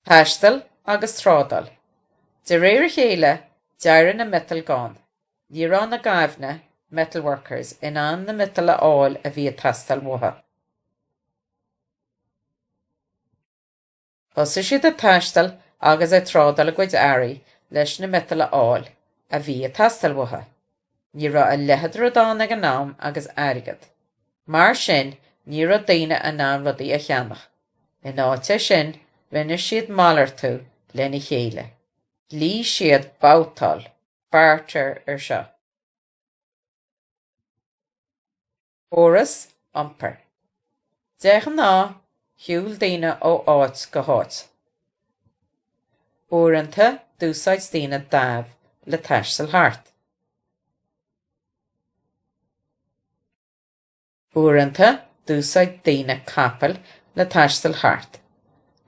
Taisteal agus trádáil. De réir a chéile, d'éirigh na miotail gann. Ní raibh na gaibhne, metal workers, in ann na miotail a fháil a bhí ag teastáil uathu. Thosaigh siad ag taisteal agus ag trádáil a gcuid earraí leis na miotail a fháil a bhí ag teastáil uathu. Ní raibh a leithéid de rud ann ag an am agus airgead. Mar sin ní raibh daoine in ann rudaí a cheannach. In áit é sin rinne siad malartú lena chéile. Ghlaoigh siad babhtáil, barter, ar seo. Córas iompair. De ghnáth, shiúil daoine ó áit go háit. Uaireanta, d'úsáid daoine damh le taisteal thart. Uaireanta, d'úsáid daoine capaill le taisteal thart.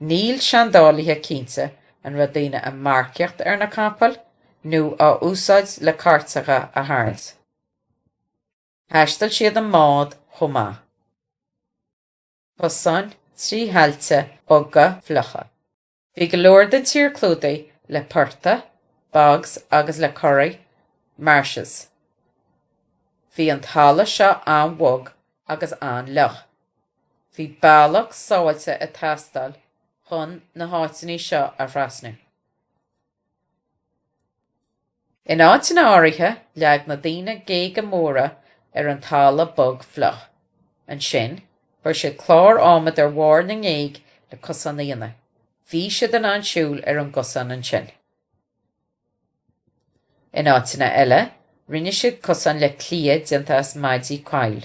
Níl seandálaithe cinnte an raibh daoine ag marcaíocht ar na capaill nó á úsáid le cairteacha a tharraingt. Thaistil siad i mbáid chomh maith. Cosáin trí thailte boga fliucha. Bhí go leor den tír clúdaithe le portaigh, bogs, agus le corraigh, marshes. Bhí an talamh seo an-bhog agus an-fhliuch. Bhí bealach sábháilte ag teastáil chun na háiteanna seo a thrasnú. In áiteanna áirithe leag na daoine géaga móra ar an talamh bog fliuch. Ansin, chuir siad cláir adhmaid ar bharr na ngéag le cosán a dhéanamh. Bhí siad in ann siúl ar an gcosán ansin. In áiteanna eile, rinne siad cosán le cliath déanta as maidí coill.